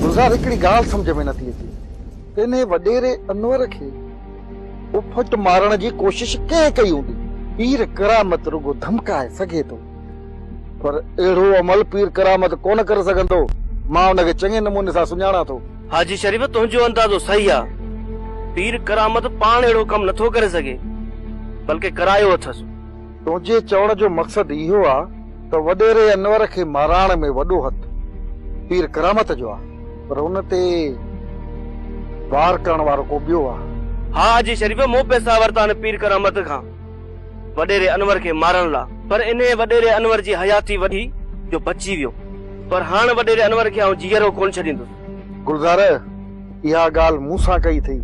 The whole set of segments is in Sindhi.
گلزار هڪڙي ڳالهه سمجهه ۾ نٿي اچي ته انهي وڏيري انور کي اڦٽ مارڻ جي ڪوشش ڪنهن ڪئي هوندي. پير ڪرامت رڳو ڌمڪائي سگهي ٿو پر اهڙو عمل پير ڪرامت ڪونه ڪري سگهندو. مان ان کي چڱي نموني سان سڃاڻان ٿو. حاجي شريف تنهنجو اندازو صحيح آ. پير ڪرامت پاڻ اهڙو ڪم نٿو ڪري سگهي بلڪه ڪرايو اٿس. تنهنجي چوڻ جو مقصد اهو آ ته وڏيري انور کي ماراڻ ۾ وڏو هٿ پير ڪرامت جو آ پر ان تي وار ڪرڻ وارو ڪو ٻيو آ. ها حاجي شريف مون پئسا ورتا آهن پير ڪرامت کان وڏيري انور کي مارڻ لا پر انهي وڏيري انور جي حياتي وڍي جو بچي ويو پر هاڻ وڏيري انور کي آئون جيئرو ڪونه ڇڏيندس. گلزار! اها ڳالهه مون سان ڪئي اٿئي.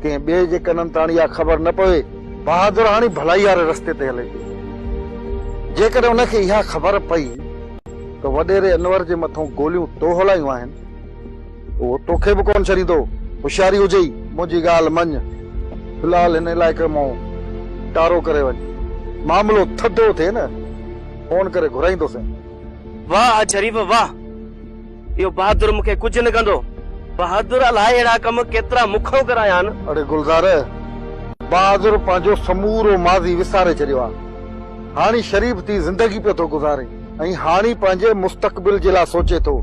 ڪنهن ٻئي جي ڪنن تان اها خبر نه پوي. بهادر هاڻي ڀلائي واري رستي تي هلي پيو. جيڪڏهن ان کي اها خبر پئي ته وڏيري انور جي مٿئون گوليون تو هلايون آهن، اهو توکي به ڪونه ڇڏيندو. هوشياري هجئي. منهنجي ڳالهه مڃ. في الحال هن علائقي مان ٽارو ڪري وڃ. معاملو ٿڌو ٿئي نه، فون ڪري گهرائيندوسين. واهه اڄ شريف واهه! اهو بهادر مون کي ڪجهه نه ڪندو. بهادر الائي اهڙا ڪم ڪيترا مون کان ڪرايا آهن. اڙي گلزار! بهادر پنهنجو سمورو ماضي وساري ڇڏيو آهي. هاڻي شريف ٿي زندگي پيو ٿو گذاري ۽ هاڻي پنهنجي مستقبل جي لاء سوچي ٿو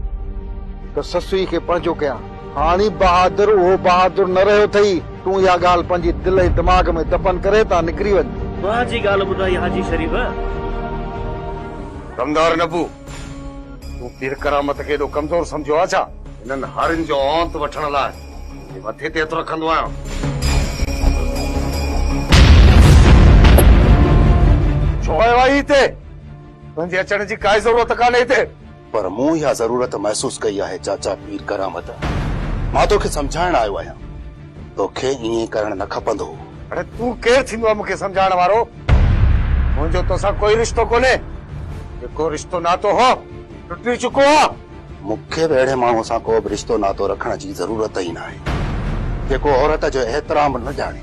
ته سسئي کي پنهنجو ڪيان. هاڻي بهادر اهو بهادر نه رهيو اٿئي. تون اها ڳالهه پنهنجي دل ۽ دماغ ۾ دفن ڪري هتان نڪري وڃ. واهه جي ڳالهه ٻڌائي حاجي شريف. دمدار نبو! تون پير ڪرامت کي ايڏو ڪمزور سمجهيو آهي ڇا؟ هنن هارين جو اونت وٺڻ لاء پنهنجي مٿي تي هٿ رکندو آهيان. ڇو آيو آهين هتي؟ تنهنجي اچڻ جي ڪائي ضرورت ڪانهي هتي. پر مون اها ضرورت محسوس ڪئي آهي چاچا پير ڪرامت. مان توکي سمجهائڻ آيو آهيان. توکي ائين ڪرڻ نه کپندو هو. اڙي تون ڪير ٿيندو آهي مون کي سمجهائڻ وارو؟ منهنجو توسان ڪوئي رشتو ڪونهي. جيڪو رشتو ناتو هو ٽٽي چڪو آهي. مون کي به اهڙي ماڻهوء سان ڪو به رشتو ناتو رکڻ جي ضرورت ئي ناهي. جيڪو عورت جو احترام نه ڄاڻي.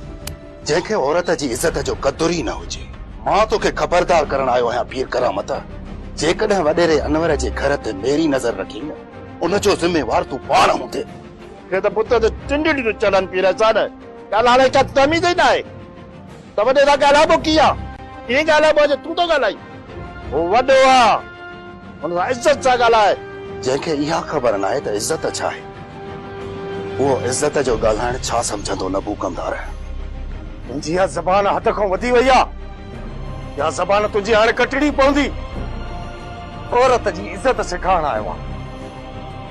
جنهن کي عورت جي عزت جو قدر ئي نه هجي. مان توکي خبردار ڪرڻ آيو آهيان پير ڪرامت! جيڪڏهن وڏيري انور جي گهر تي ميري نظر رکين ان جو ذميوار تون پاڻ هوندين. هي ته بت تي ٽنڊڙي تي چڙهن پي رهيا سان ڳالهائڻ لائي ڪا تميز ئي ناهي ته وڏي سان ڳالهائبو ڪيئن ڪيئن ڳالهائبو آهي جو تون ٿو ڳالهائين هو وڏو آ هن سان عزت سان ڳالهاء. جنهن کي اها خبر ناهي ته عزت ڇا آهي اهو عزت جو ڳالهائڻ ڇا سمجهندو نبوڪندار. تنهنجي اها زبان حد کان وڌي وئي آ اها زبان تنهنجي هاڻي ڪٽڻي پوندي عورت جي عزت سيکارڻ آيو آ.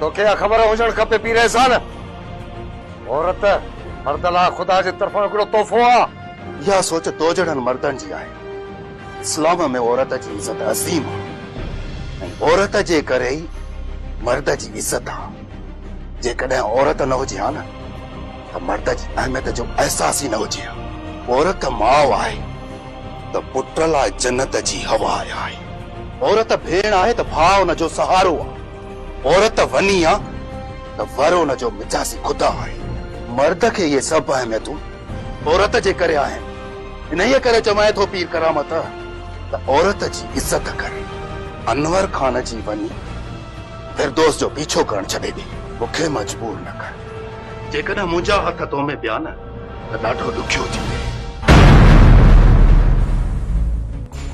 توکي اها خبر هجڻ کپي پير احسان، عورت مرد لاء خدا جي طرفان هڪڙو تحفو آ. اها سوچ تو جهڙن مردن جي آهي. اسلام ۾ عورت جي عزت عظيم آ ۽ عورت جي ڪري ئي مرد جي عزت آ. جيڪڏهن عورت نه هجي ها نه ته مرد جي اهميت جو احساس ئي نه هجي ها. عورت ماء آهي ته پٽ لاء جنت جي هوا آهي. عورت ڀيڻ آهي ته ڀاء ان جو سهارو آ. عورت وني آ ته ور ان جو مجازي خدا آهي. مرد کي اهي سڀ اهميتون عورت جي ڪري آهن. انهيء ڪري چوانء ٿو پير ڪرامت ته عورت جي عزت ڪر. انور خان جي وني فردوس جو پيڇو ڪرڻ ڇڏي ڏي. مون کي مجبور نه ڪر. جيڪڏهن منهنجا هٿ تو ۾ پيا نه ته ڏاڍو ڏکيو ٿيندين.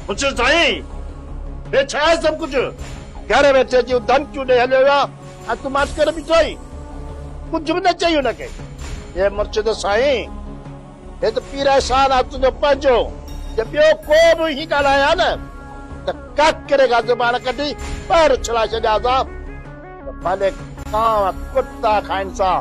پڇ سائين! هي ڇا آهي سڀ ڪجهه؟ گهر ويٺي اچي ڌمڪيون ڏئي هليو ويو آهي. ها تون ماٺ ڪري بيٺو آهين. ڪجهه به نه چئي هن کي. هي مرشد سائين، هي ته پير احسان آهي تنهنجو پنهنجو. جي ٻيو ڪو به ائين ڳالهائي ها نه ته ڪڪري کان زبان ڪڍي ٻاهر اڇلائي ڇڏيان ها ته ڀلي ڪانء ڪتا کائين سان.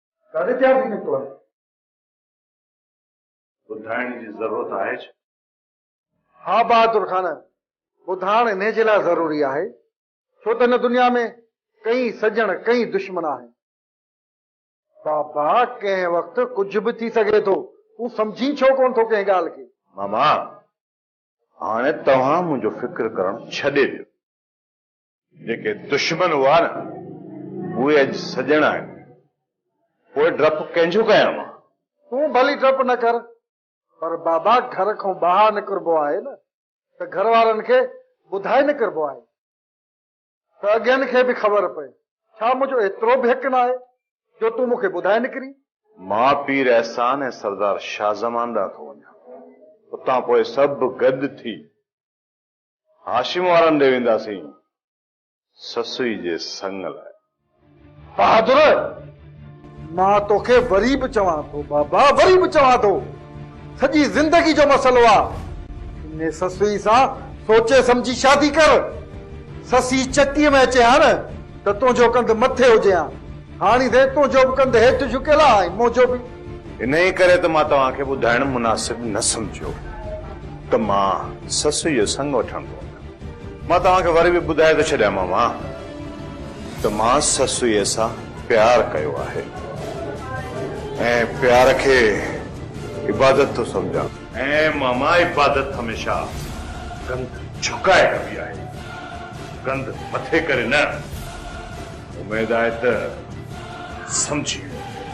ڪاڏي تيار ٿي نڪتو آهي؟ ٻڌائڻ جي ضرورت آهي ڇا؟ ها بهادر خان، ٻڌائڻ انهي جي لاء ضروري آهي، ڇو ته هن دنيا ۾ ڪئين سڄڻ ڪئين دشمن آهن. بابا ڪنهن وقت ڪجهه به ٿي سگهي ٿو، تون سمجهين ڇو ڪونه ٿو ڪنهن ڳالهه کي؟ ماما، هاڻي توهان منهنجو فڪر ڪرڻ ڇڏي ڏيو. جيڪي دشمن هئا نه اهي اڄ سڄڻ آهن. پوء ڊپ ڪنهن جو ڪيان مان؟ تون ڀلي ڊپ نه ڪر پر بابا گهر کان ٻاهر نڪربو آهي نه ته گهر وارن کي ٻڌائي نڪربو آهي ته اڳين کي به خبر پئي. ڇا منهنجو ايترو به حق ناهي جو تون مون کي ٻڌائي نڪرين؟ مان پير احسان ۽ سردار شاهه زمان ڏانهن ٿو وڃان. اتان پوء سڀ گڏ ٿي هاشم وارن ڏي وينداسين سسئي جي سڱ لاء. بهادر! مان توکي وري به چوان ٿو بابا وري به چوان ٿو سڄي زندگي جو مسئلو آ انهي سسئي سان سوچي سمجهي شادي ڪر سسئي چٽي ۾ اچي هان ته تنهنجو ڪنڌ مٿي هجي هان هاڻي سائين تنهنجو به ڪنڌ هيٺ جهڪيل آهي ۽ منهنجو به. انهيء ڪري ته مان توهان کي ٻڌائڻ مناسب نه سمجهيو ته مان سسئي جو سڱ وٺڻ ٿو وڃان. مان توهان کي وري به ٻڌائي ٿو ڇڏيان ماما ته مان سسئي سان پيار ڪيو آهي ۽ پيار کي عبادت ٿو سمجهان. ۽ ماما عبادت هميشه ڪنڌ جهڪائي ڪبي آهي، ڪنڌ مٿي ڪري نه. اميد آهي ته سمجهي ويندين.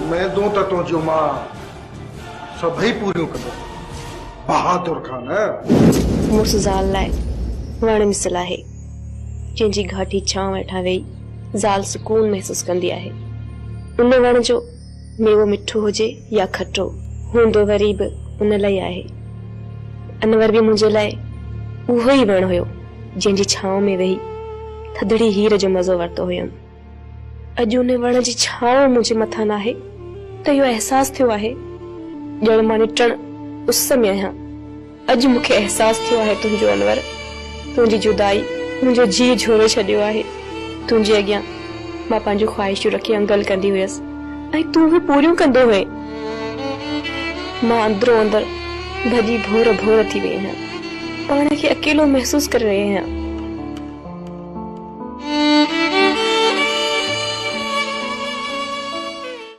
اميدون ته تنهنجيون مان سڀئي پوريون ڪندس بهادر خان. مڙس زال لاء وڻ مثل آهي، جنهن جي گهاٽي ڇانو هيٺان ويهي زال سڪون محسوس ڪندي آهي. ان وڻ جو. ميوو مٺو هجي يا کٽو هوندو وري به ان لاء آهي. انور به منهنجي لاء اهو ئي وڻ هيو جنهن جي ڇانو ۾ ويهي ٿڌڙي هير جو مزو ورتو هيم. اڄ ان وڻ جي ڇانو منهنجي مٿان ناهي ته اهو احساس ٿيو آهي ڄڻ مان نٽڻ اس ۾ آهيان. اڄ مون کي احساس ٿيو آهي تنهنجو انور، تنهنجي جدائي منهنجو جيء جهورو ڇڏيو آهي. تنهنجي اڳيان مان پنهنجون خواهشون رکي انگل ڪندي هيس ۽ تون اهي پوريون ڪندو هئين. مان اندرو اندر ڀڄي ڀور ڀور ٿي وئي آهيان. پاڻ کي اڪيلو محسوس ڪري رهي آهيان.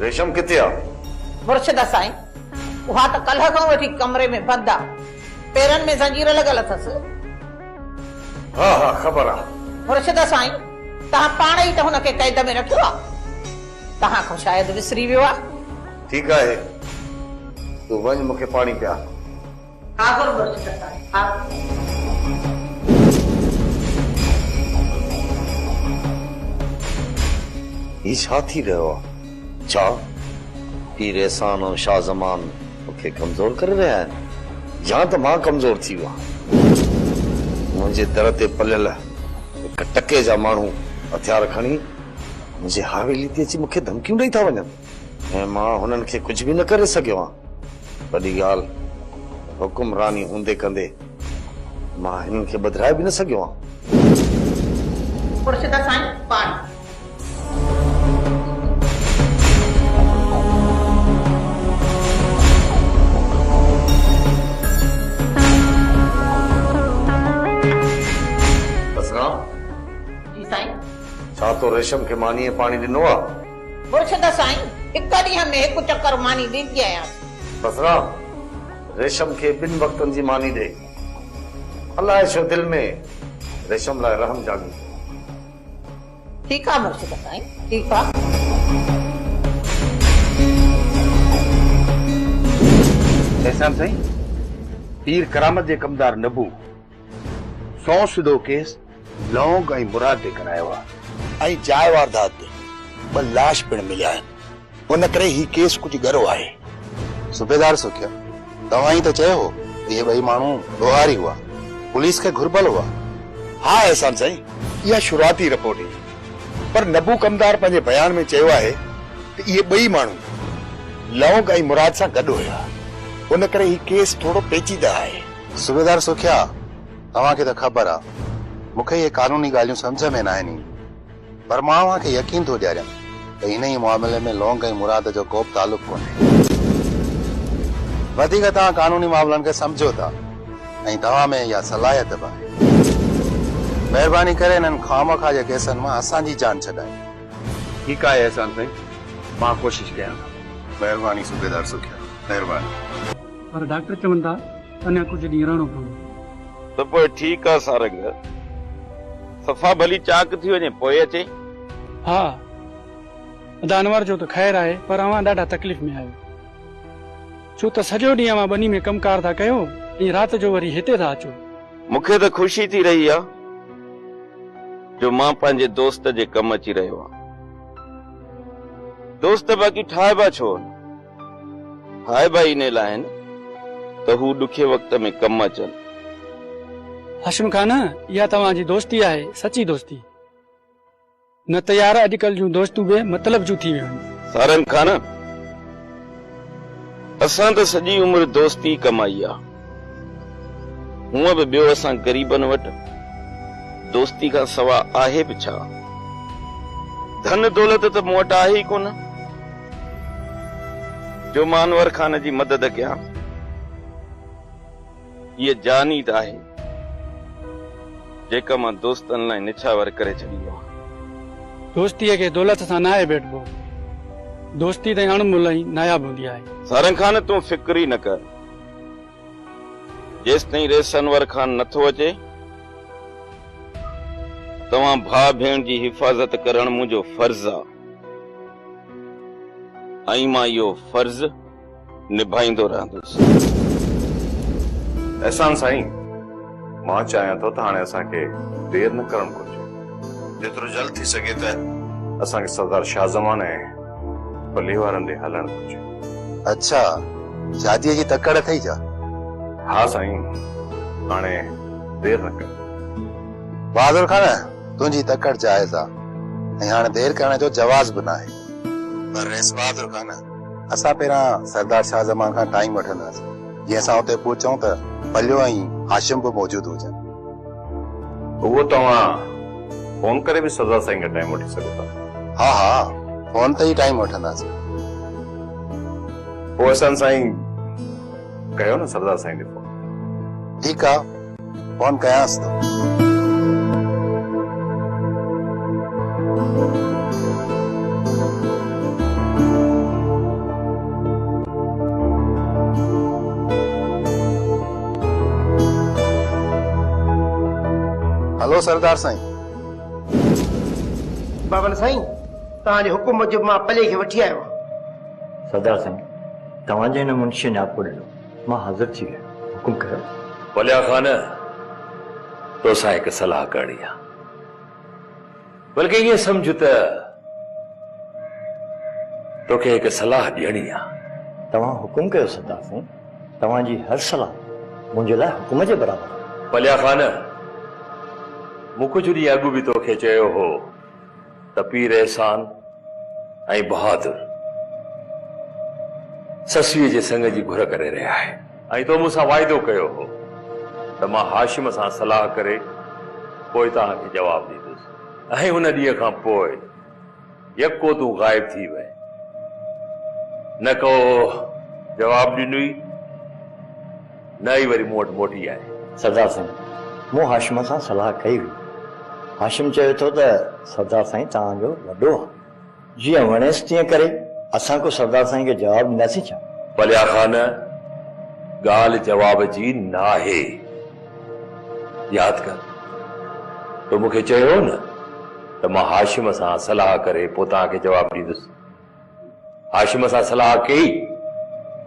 ريشم ڪٿي آ؟ مرشد سائين اها ته ڪلهه کان وٺي ڪمري ۾ بند آ پيرن ۾ زنجير لڳل اٿس. ها ها خبر آ. مرشد سائين توهان پاڻ ئي ته هن کي قيد ۾ رکيو آ توهان کان شايد وسري ويو آ. ٺيڪ آهي، تون وڃ مون کي پاڻي پيار. حاضر مرچ ڪٽائي حاضر. هي ڇا ٿي رهيو آهي؟ ڇا پير احسان ۽ شاهه زمان مون کي ڪمزور ڪري رهيا آهن يا ته مان ڪمزور ٿي ويو آهيان؟ منهنجي در تي پليل هڪ ٽڪي جا ماڻهو هٿيار کڻي منهنجي حويلي تي اچي مون کي ڌمڪيون ڏئي ٿا وڃن. ۽ مان هنن کي ڪجهه به نه ڪري سگهيو آهيان. وڏي ڳالهه حڪمراني هوندي ڪندي مان هنن کي ٻڌرائي به نه سگهيو آهيان. خورشيدا سائين پاڻ. اسلام. جي سائين. ڇا تو ريشم کي مانيء پاڻي ڏنو آهي؟ مرشد سائين هڪ ڏينهن ۾ هڪ چڪر ماني ڏيندي آهيانس. بصره، ريشم کي ٻن وقتن جي ماني ڏي. الاء ڇو دل ۾ ريشم لاء رحم جاڳي ٿو. ٺيڪ آ مرشد سائين ٺيڪ آ. احسان سائين، پير ڪرامت جي ڪمدار نبو. سون سڌو ڪيس لونگ ۽ مراد تي ڪرايو آهي. ۽ جاء واردات تي ٻه لاش پڻ مليا آهن، ان ڪري هي ڪيس ڪجهه ڳرو آهي. صوبيدار سکيا، توهان ئي ته چيو هو ته اهي ٻئي ماڻهو ڏوهاري هئا، پوليس کي گهربل هئا. ها احسان سائين، اها شروعاتي رپورٽ هئي، پر نبو ڪمدار پنهنجي بيان ۾ چيو آهي ته اهي ٻئي ماڻهو لونگ ۽ مراد سان گڏ هيا، ان ڪري هي ڪيس ٿورو پيچيده آهي. صوبيدار سکيا، توهان کي ته خبر آ، مون کي اهي قانوني ڳالهيون سمجهه ۾ ناهن اينديون، پر مان اوهان کي يقين ٿو ڏياريان ته انهيء معاملي ۾ لونگ ۽ مراد جو ڪوبه تعلق ڪونهي. وڌيڪ توهان قانوني معاملن کي سمجهو ٿا ۽ توهان ۾ اها صلاحيت به آهي. مهرباني ڪري انهن خامخواه جي ڪيسن مان اسان جي جان ڇڏايو. ٺيڪ آهي احسان سائين، مان ڪوشش ڪيان ٿو. مهرباني صوبيدار سکيا، مهرباني. پر ڊاڪٽر چون ٿا ته اڃا ڪجهه ڏينهن رهڻو پوندو. ته پوء ٺيڪ آ سارنگ. صفا ڀلي چاڪ ٿي وڃي پوء اچين. ها ادا انور جو ته خير آهي پر اوهان ڏاڍا تڪليف ۾ آهيو. ڇو ته سڄو ڏينهن اوهان ٻني ۾ ڪم ڪار ٿا ڪيو ۽ رات جو وري هتي ٿا اچو. مون کي ته خوشي ٿي رهي آ جو مان پنهنجي دوست جي ڪم اچي رهيو آهيان. دوست باقي ٺاهبا ڇو آهن. هاء ڀائي انهي لاء آهن ته هو ڏکي وقت ۾ ڪم اچن. هاشم خان اها توهان جي دوستي آهي سچي دوستي نه ته يار اڄڪلھ جون دوستون بي مطلب جون ٿي ويون آهن. سارنگ خان اسان ته سڄي عمر دوستي ڪمائي آ. هونء به ٻيو اسان غريبن وٽ دوستي کان سوا آهي به ڇا؟ ڌن دولت ته مون وٽ آهي ئي ڪونه جو مان انور خان جي مدد ڪيان. هيء جانيد آهي جيڪا مان دوستن لاء نڇاور ڪري ڇڏي هئا. دوستيء کي دولت سان ناهي ڀيٽبو. دوستي تائين اڻملهه ۽ ناياب هوندي آهي. سارنگ خان تون فڪر ئي نه ڪر. جيستائين ريس انور خان نه ٿو اچي، توهان ڀاء ڀيڻ جي حفاظت ڪرڻ منهنجو فرض آ ۽ مان اهو فرض نڀائيندو رهندس. احسان سائين. مان چاهيان ٿو ته هاڻي اسان کي دير نه ڪرڻ گهرجي. جيترو جلد ٿي سگهي ته. اسان کي سردار شاهه زمان ۽ پلي وارن ڏي هلڻ گهرجي. اڇا شاديء جي تڪڙ اٿئي ڇا؟ ها سائين هاڻي دير نه ڪر. بهادر خان تنهنجي تڪڙ جائز آ ۽ هاڻي دير ڪرڻ جو جواز به ناهي. پر رئيس بهادر خان اسان پهريان سردار شاهه زمان کان ٽائيم وٺنداسين. جي اسان اتي پهچون ته پليو ۽ هاشم به موجود هجن. اهو توهان فون ڪري به سزا سائين کان ٽائيم وٺي سگهو ٿا. ها ها فون تي ئي ٽائيم وٺنداسين. پوء احسان سائين ڪيو نه سردار سائين کي فون. ٺيڪ آ. فون ڪيانس ٿو. هلو سردار سائين. بابل سائين توهان جي حڪم موجب مان پلي کي وٺي آيو آهيان. سردار سائين توهان جي هن منشي نياپو ڏنو. مان حاضر ٿي ويم، حڪم ڪيو. وليا خان! توسان هڪ صلاح ڪرڻي آ. بلڪه ائين سمجهه ته توکي هڪ صلاح ڏيڻي آ. توهان حڪم ڪيو سردار سائين، توهان جي هر صلاح منهنجي لاء حڪم جي برابر آ. وليا خان! مون ڪجهه ڏينهن اڳ به توکي چيو هو. ته پير احسان ۽ بهادر سسئيء جي سڱ جي گهر ڪري رهيا آهن. ۽ تو مون سان واعدو ڪيو هو ته مان هاشم سان صلاح ڪري پوء توهان کي جواب ڏيندس. ۽ ان ڏينهن کان پوء يڪو تون غائب ٿي وئين، نه ڪو جواب ڏنئي. نه ئي وري مون وٽ موٽي آئي. سردار سائين، مون هاشم سان صلاح ڪئي هئي. هاشم چوي ٿو ته سردار سائين توهان جو وڏو آهي. جيئن وڻيس تيئن ڪري. اسان ڪو سردار سائين کي جواب ڏينداسين ڇا؟ پليا خان، ڳالهه جواب جي ناهي. ياد ڪر تو مون کي چيو هو نه ته مان هاشم سان صلاح ڪري پوء توهان کي جواب ڏيندس. هاشم سان صلاح ڪئي؟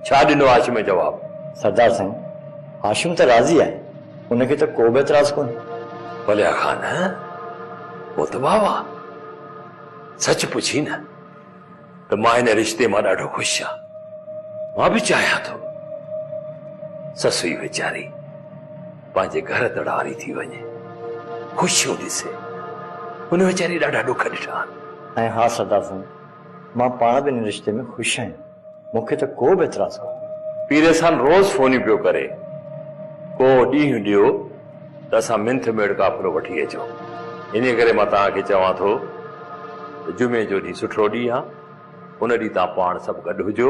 ڇا ڏنو هاشم جواب؟ سردار سائين، هاشم ته راضي آهي، ان کي ته ڪو به اعتراض ڪونهي. وليا خان، پوء ته واهه واهه. سچ پڇين نه ته مان هن رشتي مان ڏاڍو خوش آهيان. مان به چاهيان ٿو سسئي ويچاري پنهنجي گهر تڙ واري ٿي وڃي، خوشيون ڏسي. هن ويچاري ڏاڍا ڏک ڏٺا آهن. ۽ ها سردار سائين، مان پاڻ به ان رشتي ۾ خوش آهيان. مون کي ته ڪو به اعتراض ڪونهي. پيريسان روز فونيون پيو ڪري. ڪو ڏينهن ڏيو ته اسان منٿ ميڙ قافلو وٺي اچو. انهيء ڪري مان توهان کي چوان ٿو ته جمعي جو ڏينهن سٺڙو ڏينهن آهي. ان ڏينهن توهان پاڻ سڀ گڏ هجو.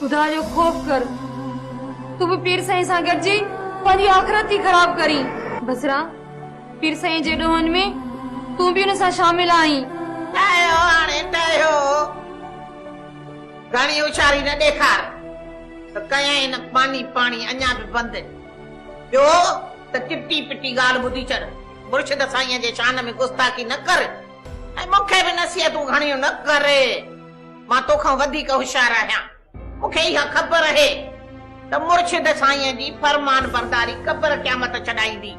خدا جو خوف ڪر، تون به پير سائين سان گڏجي پنهنجي آخرت ٿي خراب ڪرين. بصره، پير سائين جي ڏوهن ۾ تون به ان سان شامل آهين. ٽهيو هاڻي ٽهيو، گهڻي هوشياري نه ڏيکار ته ڪيائين ماني پاڻي اڃا به بند. ٻيو ته چٽي پٽي ڳالهه ٻڌي ڇڏ، مرشد سائينء جي شان ۾ گستاخي نه ڪر ۽ مون کي به نصيحتون گهڻيون نه ڪر. مان توکان وڌيڪ هوشيار آهيان. مون کي اها خبر اهي ته مرشد سائينء جي فرمان برداري قبر قيامت ڇڏائيندي.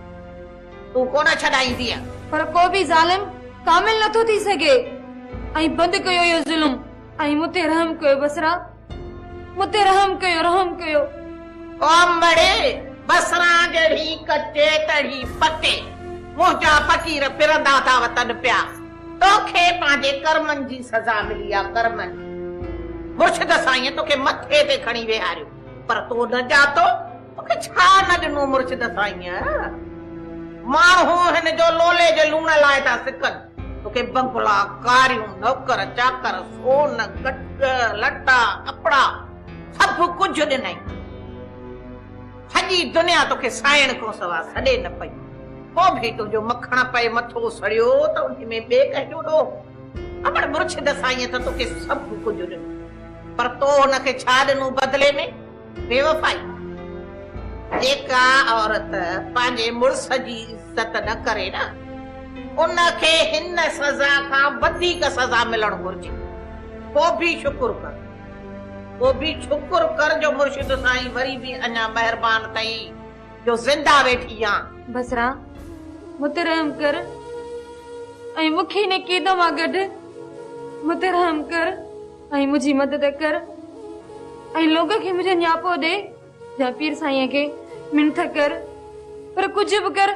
تون ڪونه ڇڏائيندينء. پر ڪو به ظالم ڪامل نه ٿو ٿي سگهي. ۽ بند ڪيو اهو ظلم ۽ مون تي رحم ڪيو بصريٰ! مون تي رحم ڪيو، رحم ڪيو. او امڙي بصريٰ جهڙي ڪچي تڙي پٽي منهنجا فقير ڦرندا ٿا وتن پيا. توکي پنهنجي ڪرمن جي سزا ملي آ ڪرمن جي مرشد سائينء توکي مٿي تي کڻي ويهاريو پر تو نه ڄاتو توکي ڇا نه ڏنو مرشد سائينء ماڻهو هن جو لولي جي لوڻ لاء ٿا سڪن توکي بنگلا ڪاريون نوڪر چاڪر سون ڪٽ لٽا ڪپڙا سڀ ڪجهه ڏنئي سڄي دنيا توکي سائڻ کان سوا سڏي نه پئي. هو ڀي تنهنجو مکڻ پئي مٿو سڙيو ته انهي ۾ ٻئي ڪنهن جو ڏوهه؟ امڙ مرشد سائينء ته توکي سڀ ڪجهه ڏنو پر تو هن کي ڇا ڏنو بدلي ۾؟ بيوفائي! جيڪا عورت پنهنجي مڙس جي عزت نه ڪري نه ان کي هن سزا کان وڌيڪ سزا ملڻ گهرجي. پو ڀي شڪر ڪر. پو ڀي شڪر ڪر جو مرشد سائين وري ڀي اڃا مهربان اٿئي. جو زنده ويٺي آن. بصره! مون تي رحم ڪر ۽ مون کي هن قيد مان ڪڍ. مون تي رحم ڪر ۽ منهنجي مدد ڪر ۽ لوڪ کي منهنجو نياپو ڏي يا پير سائينء کي منٿ ڪر، پر ڪجهه به ڪر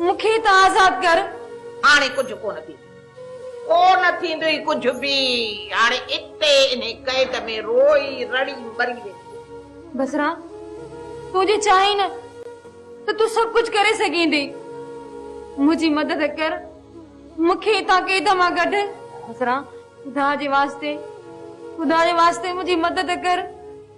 مون کي هتان آزاد ڪر. هاڻي ڪجهه ڪونه ٿيندو. ڪو نه ٿيندئي ڪجهه به. هاڻي اتي انهي قيد ۾ روئي رڙي مري ويندينء. بصره! تون جي چاهين نه ته تون سڀ ڪجهه ڪري سگهين ٿي. منهنجي مدد ڪر. مون کي اتان قيد مان ڪڍ. بصره! خدا جي واسطي، خدا جي واسطي منهنجي مدد ڪر.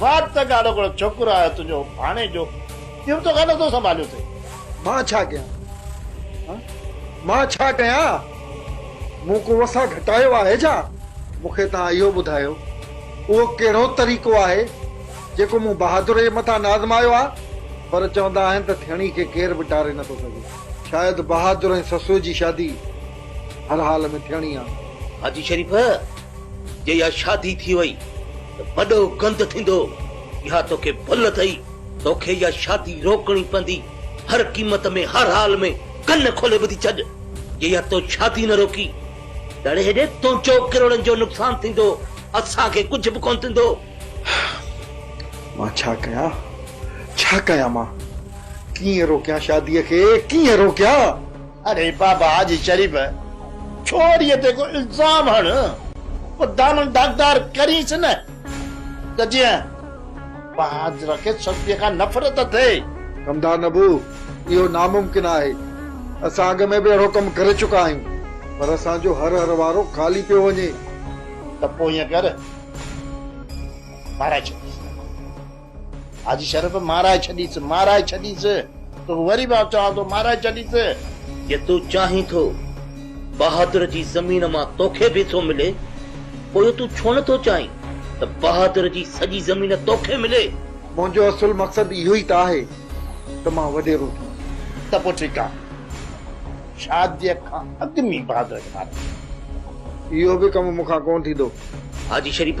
واٽ ته ڳاڙهو ڳڙهو ڇوڪرو آيو تنهنجو ڀاڻيجو، اهو به تو کان نٿو سنڀاليو اٿئي. مان ڇا ڪيان هان؟ مان ڇا ڪيان؟ مون ڪو وسان گهٽايو آهي ڇا؟ مون کي توهان اهو ٻڌايو، اهو ڪهڙو طريقو آهي، جيڪو مون بهادريء مٿان نه آزمايو آهي؟ پر چوندا آهن ته ٿيڻي کي ڪير به ٽاري نٿو سگهي. شايد بهادر ۽ سسوء جي شادي هر حال ۾ ٿيڻي آهي. حاجي شريف! جي اها شادي ٿي وئي ته وڏو گند ٿيندو. اها توکي ڀل اٿئي. توکي اها شادي روڪڻي پوندي. هر قيمت ۾ هر حال ۾ ڪن کولي ٻڌي ڇڏ. جي اها تو شادي نه روڪي تڙي هيڏي تنهنجو ڪروڙن جو نقصان ٿيندو. اسان کي ڪجهه به ڪونه ٿيندو. مان ڇا ڪيان؟ ڇا ڪيان مان؟ ڪيئن روڪيان شاديء کي؟ ڪيئن روڪيان؟ اڙي بابا حاجي شريف ڇوريء تي ڪو الزام هڻ پوء دامن داغدار ڪرينس نه ته جيئن بهادر کي سسئي کان نفرت ٿئي. ڪمدار نبو اهو ناممڪن آهي. اسان اڳ ۾ به اهڙو ڪم ڪري چڪا آهيون پر اسان جو هر هر وارو خالي پيو وڃي. ته پوء ائين ڪر مارائي ڇڏيس. حاجي شرف مارائي ڇڏيس مارائي ڇڏيس توکي وري به آئون چوان ٿو مارائي ڇڏيس. جي تون چاهين ٿو بهادر جي زمين مان توکي به ٿو ملي پوء تون ڇو نه ٿو چاهين ته بهادر جي سڄي زمين توکي ملي. منهنجو اصل مقصد اهو ئي ته آهي ته مان وڏيرو ٿيان. ته پوء ٺيڪ آهي شاديء کان اڳ ۾ بهادر کي ماري ڇڏ. اهو به ڪم مون کان ڪونه ٿيندو. حاجي شريف!